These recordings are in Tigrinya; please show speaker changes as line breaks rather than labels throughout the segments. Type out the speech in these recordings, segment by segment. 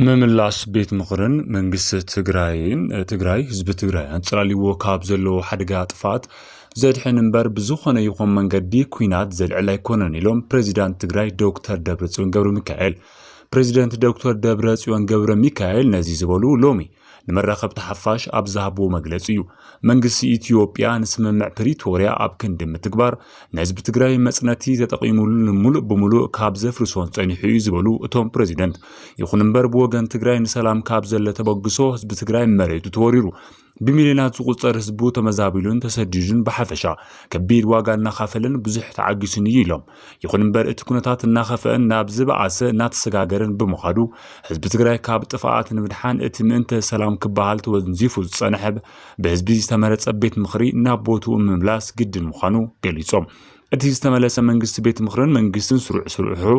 ምምላስ ቤት ምኽርን መንግስቲ ትግራይን ትግራይ ህዝቢ ትግራይ ኣንጸላልዎ ካብ ዘለዎ ሓደጋ ጥፍኣት ዘድሕን እምበር ብዝኾነ ይኹን መንገዲ ኩናት ዘልዕል ኣይኮነን ኢሎም ፕሬዚዳንት ትግራይ ዶክተር ደብረጽዮን ገብረ ሚካኤል። ፕሬዚደንት ዶክተር ደብረ ጽዮን ገብረ ሚካኤል ነዚ ዝበሉ ሎሚ ንመራኸብቲ ሓፋሽ ኣብ ዝሃብዎ መግለፂ እዩ። መንግስቲ ኢትዮጵያ ንስምምዕ ፕሪቶርያ ኣብ ክንዲ ምትግባር ንህዝቢ ትግራይ መፅነቲ ተጠቒሙሉ ንምሉእ ብምሉእ ካብ ዘፍርሶን ፀኒሑ እዩ ዝበሉ እቶም ፕሬዚደንት፣ ይኹን እምበር ብወገን ትግራይ ንሰላም ካብ ዘለ ተበግሶ ህዝቢ ትግራይ መሬቱ ተወሪሩ ብሚልዮናት ዝቑፀር ህዝቡ ተመዛቢሉን ተሰዲዱን ብሓፈሻ ከቢድ ዋጋ እናኻፈለን ብዙሕ ተዓጊሱን እዩ ኢሎም። ይኹን እምበር እቲ ኩነታት እናኸፍአን ናብ ዝበኣሰ እናተሰጋገረን ብምዃዱ ህዝቢ ትግራይ ካብ ጥፍኣት ንምድሓን እቲ ምእንተ ሰላም ክበሃል ተወንዚፉ ዝፀንሐ ብህዝቢ ዝተመረፀ ቤት ምኽሪ ናብ ቦትኡ ምምላስ ግድን ምዃኑ ገሊፆም። እቲ ዝተመለሰ መንግስቲ ቤት ምኽርን መንግስትን ስሩዕ ስርሑ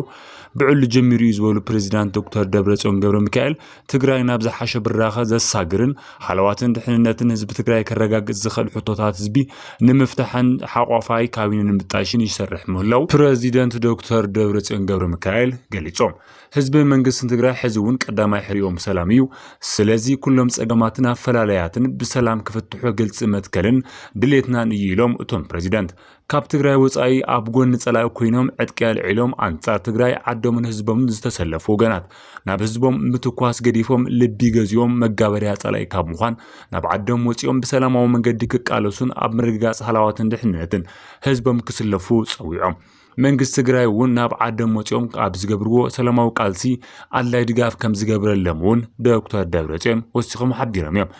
ብዕሉ ጀሚሩ እዩ ዝበሉ ፕሬዚዳንት ዶክተር ደብረፅዮን ገብረ ሚካኤል ትግራይ ናብ ዝሓሸ ብራኸ ዘሳግርን ሃለዋትን ድሕንነትን ህዝቢ ትግራይ ከረጋግፅ ዝኽእል ሕቶታት ህዝቢ ንምፍታሕን ሓቋፋይ ካቢነ ንምጣይሽን ይሰርሕ ምህላው ፕረዚደንት ዶክተር ደብረፅዮን ገብረሚካኤል ገሊፆም። ህዝብን መንግስትን ትግራይ ሕዚ እውን ቀዳማይ ሕርይኦም ሰላም እዩ። ስለዚ ኩሎም ፀገማትን ኣፈላላያትን ብሰላም ክፍትሑ ግልፂ መትከልን ድሌትናን እዩ ኢሎም እቶም ፕረዚደንት። ካብ ትግራይ ወፃኢ ኣብ ጎኒ ፀላኢ ኮይኖም ዕጥቂ ኣልዒሎም ኣንፃር ትግራይ ዓዶምን ህዝቦምን ዝተሰለፉ ወገናት ናብ ህዝቦም ምትኳስ ገዲፎም ልቢ ገዚኦም መጋበርያ ፀላኢ ካብ ምዃን ናብ ዓዶም ወፂኦም ብሰላማዊ መንገዲ ክቃለሱን ኣብ ምርግጋፅ ሃላዋትን ድሕንነትን ህዝቦም ክስለፉ ፀዊዖም። መንግስቲ ትግራይ እውን ናብ ዓዶም ወፂኦም ኣብ ዝገብርዎ ሰላማዊ ቃልሲ ኣድላይ ድጋፍ ከም ዝገብረሎም እውን ዶክተር ደብረፅዮን ወሲኾም ሓቢሮም እዮም።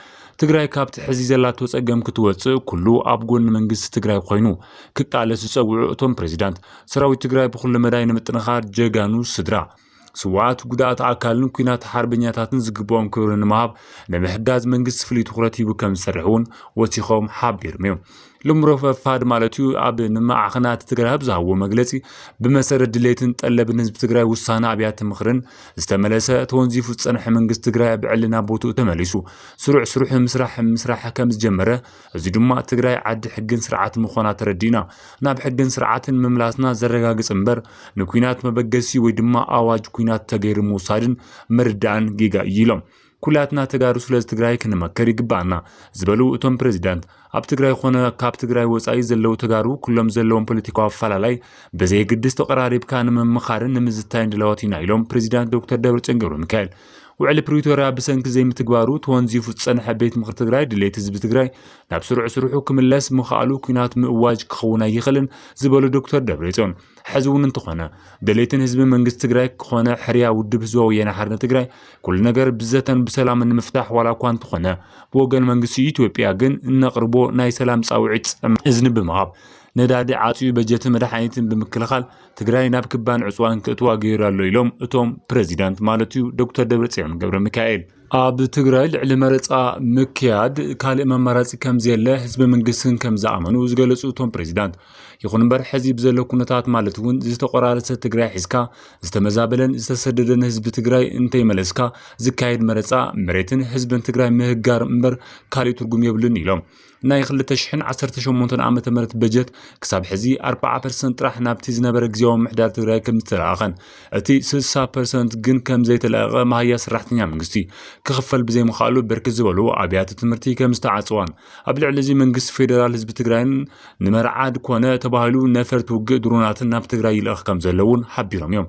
ትግራይ ካብቲ ሕዚ ዘላቶ ፀገም ክትወፅእ ኩሉ ኣብ ጎኒ መንግስቲ ትግራይ ኮይኑ ክቃለስ ዝፀውዑ እቶም ፕሬዚዳንት፣ ሰራዊት ትግራይ ብኹሉ መዳይ ንምጥንኻር ጀጋኑ ስድራ ስውኣት፣ ጉዳኣት ኣካልን ኩናት ሓርበኛታትን ዝግበኦም ክብሪ ንምሃብ ንምሕጋዝ መንግስቲ ፍሉይ ትኹረት ሂቡ ከምዝሰርሕ እውን ወሲኾም ሓቢርም ዮም። ሎም ረፈፋድ ማለት እዩ ኣብ ንማዕኸናት ትግራይ ኣብ ዝሃብዎ መግለፂ ብመሰረት ድሌትን ጠለብን ህዝቢ ትግራይ ውሳነ ኣብያተ ምኽርን ዝተመለሰ ተወንዚፉ ዝፀንሐ መንግስቲ ትግራይ ኣብ ዕሊ ናብ ቦትኡ ተመሊሱ ስሩዕ ስሩሕ ምስራሕ ምስራሕ ከም ዝጀመረ እዚ ድማ ትግራይ ዓዲ ሕግን ስርዓት ምዃና ተረዲእና ናብ ሕግን ስርዓትን ምምላስና ዘረጋግፅ እምበር ንኩናት መበገሲ ወይ ድማ ኣዋጅ ኩናት ተገይሩ ምውሳድን ምርዳእን ጌጋ እዩ ኢሎም። ኩላትና ተጋሩ ስለዝ ትግራይ ክንመክር ይግበኣና ዝበሉ እቶም ፕሬዚዳንት፣ ኣብ ትግራይ ኾነ ካብ ትግራይ ወፃኢ ዘለው ተጋሩ ኩሎም ዘለዎም ፖለቲካዊ ኣፈላላይ ብዘየግድስ ተቐራሪብካ ንምምኻርን ንምዝታይን ድላዎት ኢና ኢሎም ፕሬዚዳንት ዶክተር ደብረፅዮን ገብረሚካኤል። ውዕሊ ፕሪቶርያ ብሰንኪ ዘይምትግባሩ ተወንዚፉ ዝፀንሐ ቤት ምኽሪ ትግራይ ድሌት ህዝቢ ትግራይ ናብ ስሩዕ ስርሑ ክምለስ ምኽኣሉ ኲናት ምእዋጅ ክኸውን ኣይኽእልን ዝበሉ ዶክተር ደብሬፅዮን ሕዚ እውን እንተኾነ ድሌትን ህዝብን መንግስቲ ትግራይ ኮነ ሕርያ ውድብ ህዝባዊ ወያነ ሓርነት ትግራይ ኩሉ ነገር ብዘተን ብሰላምን ንምፍታሕ ዋላ እኳ እንተኾነ ብወገን መንግስቲ ኢትዮጵያ ግን እነቕርቦ ናይ ሰላም ጻውዒት ጸም እዝኒ ብምሃብ ነዳዲ ዓጽዩ በጀትን መድሓኒትን ብምክልኻል ትግራይ ናብ ክባን ዕጽዋን ክእትዋ ገይሩ ኣሎ ኢሎም እቶም ፕረዚዳንት ማለት እዩ ዶክተር ደብረጽዮን ገብረ ሚካኤል። ኣብ ትግራይ ልዕሊ መረፃ ምክያድ ካልእ መማራፂ ከምዘየለ ህዝቢ መንግስትን ከምዝኣመኑ ዝገለፁ እቶም ፕሬዚዳንት ይኹን እምበር ሕዚ ብዘሎ ኩነታት ማለት እውን ዝተቆራረሰ ትግራይ ሒዝካ ዝተመዛበለን ዝተሰደደን ህዝቢ ትግራይ እንተይመለስካ ዝካየድ መረፃ መሬትን ህዝብን ትግራይ ምህጋር እምበር ካሊእ ትርጉም የብልን ኢሎም። ናይ 2018 ዓ ም በጀት ክሳብ ሕዚ 40 ፐርሰንት ጥራሕ ናብቲ ዝነበረ ግዜያዊ ምሕዳር ትግራይ ከም ዝተለኣኸን እቲ 60 ፐርሰንት ግን ከም ዘይተለኣቐ መሃያ ሰራሕተኛ መንግስቲ ክኽፈል ብዘይምኽኣሉ ብርክት ዝበሉ ኣብያተ ትምህርቲ ከም ዝተዓፅዋን ኣብ ልዕሊ እዚ መንግስቲ ፌደራል ህዝቢ ትግራይን ንመርዓድ ኮነ ተባሂሉ ነፈርቲ ውግእ ድሮናትን ናብ ትግራይ ይልእኽ ከም ዘሎ እውን ሓቢሮም እዮም።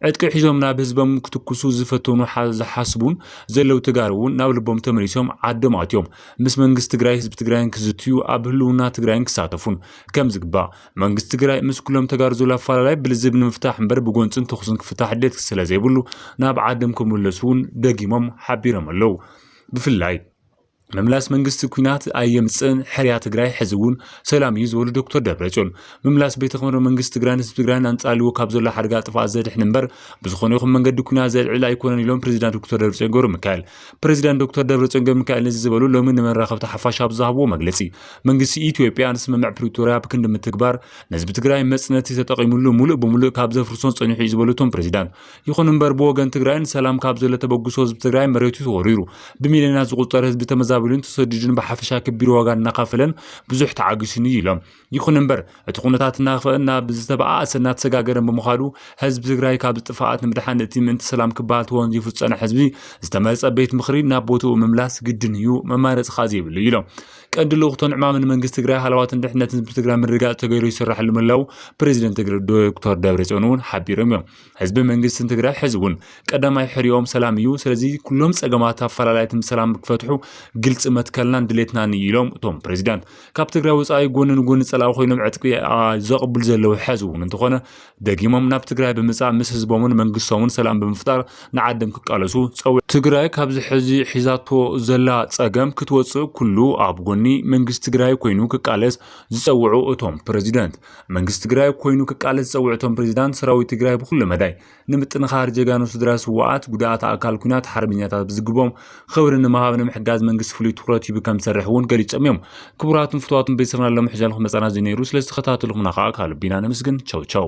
ዕጥቂ ሒዞም ናብ ህዝቦም ክትኩሱ ዝፈተኑ ዝሓስቡን ዘለው ተጋሩ እውን ናብ ልቦም ተመሊሶም ዓዶም ኣትዮም ምስ መንግስቲ ትግራይ ህዝቢ ትግራይን ክዝትዩ ኣብ ህልውና ትግራይን ክሳተፉን ከም ዝግባእ መንግስቲ ትግራይ ምስ ኩሎም ተጋሩ ዘሎ ኣፈላላይ ብልዝብ ንምፍታሕ እምበር ብጎንፅን ተኹስን ክፍታሕ ድሌት ስለ ዘይብሉ ናብ ዓዶም ክምለሱ እውን ደጊሞም ሓቢሮም ኣለው ብፍላይ ምምላስ መንግስቲ ኩናት ኣየምፅእን ሕርያ ትግራይ ሕዚ እውን ሰላም እዩ ዝበሉ ዶክተር ደብረፅዮን ምምላስ ቤተ ክብረ መንግስቲ ትግራይን ህዝቢ ትግራይን ኣንፃልዎ ካብ ዘሎ ሓደጋ ጥፍኣት ዘድሕን እምበር ብዝኾነ ይኹን መንገዲ ኩናት ዘልዕል ኣይኮነን ኢሎም ፕሬዚዳንት ዶክተር ደብረፅዮን ገብረ ሚካኤል ፕሬዚዳንት ዶክተር ደብረፅዮን ገብረ ሚካኤል ነዚ ዝበሉ ሎሚ ንመራኸብቲ ሓፋሽ ኣብ ዝሃብዎ መግለፂ መንግስቲ ኢትዮጵያ ንስምምዕ ፕሪቶሪያ ብክንዲ ምትግባር ንህዝቢ ትግራይ መፅነቲ ተጠቒሙሉ ሙሉእ ብሙሉእ ካብ ዘፍርሶን ፀኒሑ እዩ ዝበሉ እቶም ፕሬዚዳንት ይኹን እምበር ብወገን ትግራይን ሰላም ካብ ዘሎ ተበግሶ ህዝቢ ትግራይ መሬቱ ተወሪሩ ብሚልዮናት ዝቑፀር ህዝቢ ተመዛቢሉን ተሰዲዱን ብሓፈሻ ክቢር ዋጋ እናኸፈለን ብዙሕ ተዓጊሱን እዩ ኢሎም። ይኹን እምበር እቲ ኩነታት እናኸፍአን ናብ ዝተበኣኣሰ እናተሰጋገረን ብምኻዱ ህዝቢ ትግራይ ካብዚ ጥፍኣት ንምድሓን እቲ ምእንቲ ሰላም ክበሃል ተወንዚፉ ዝፀንሐ ህዝቢ ዝተመረፀ ቤት ምኽሪ ናብ ቦትኡ ምምላስ ግድን እዩ መማረፂ ከዓ ዘይብሉ እዩ ኢሎም። ቀንዲ ልኡኽቶን ዕማምን መንግስቲ ትግራይ ሃለዋትን ድሕነትን ህዝቢ ትግራይ ምርግጋፅ ተገይሩ ይስራሕሉ ምህላው ፕሬዚደንት ትግራይ ዶክተር ደብረፅዮን እውን ሓቢሮም እዮም። ህዝቢ መንግስትን ትግራይ ሕዚ እውን ቀዳማይ ሕርኦም ሰላም እዩ። ስለዚ ኩሎም ፀገማት ኣፈላላይትን ብሰላም ክፈትሑ ግልፂ መትከልናን ድሌትናን እዩ ኢሎም እቶም ፕሬዚዳንት። ካብ ትግራይ ወፃኢ ጎኒ ንጎኒ ፀላኢ ኮይኖም ዕጥቂ ዘቕብሉ ዘለዉ ሕዚ እውን እንተኾነ ደጊሞም ናብ ትግራይ ብምፃእ ምስ ህዝቦምን መንግስቶምን ሰላም ብምፍጣር ንዓድም ክቃለሱ ፀዊዕ ትግራይ ካብዚ ሕዚ ሒዛቶ ዘላ ፀገም ክትወፅእ ኩሉ ኣብ ጎኒ መንግስቲ ትግራይ ኮይኑ ክቃለስ ዝፀውዑ እቶም ፕሬዚደንት መንግስቲ ትግራይ ኮይኑ ክቃለስ ዝፀውዑ እቶም ፕሬዚዳንት ሰራዊት ትግራይ ብኩሉ መዳይ ንምጥንኻር ጀጋኑ ስድራ ስዋኣት ጉዳኣት ኣካል ኩናት ሓርበኛታት ብዝግቦም ኽብሪ ንምሃብ ንምሕጋዝ መንግስቲ ፍሉይ ትኹረት ሂቡ ከም ዝሰርሕ እውን ገሊፆም እዮም። ክቡራትን ፍትዋትን ቤተሰብና ሎሚ ሕዘልኹ መፀና እዚ ነይሩ ስለ ዝተኸታተልኹምና ከዓ ካብ ልቢ ኢና ነመስግን ቸው ቸው።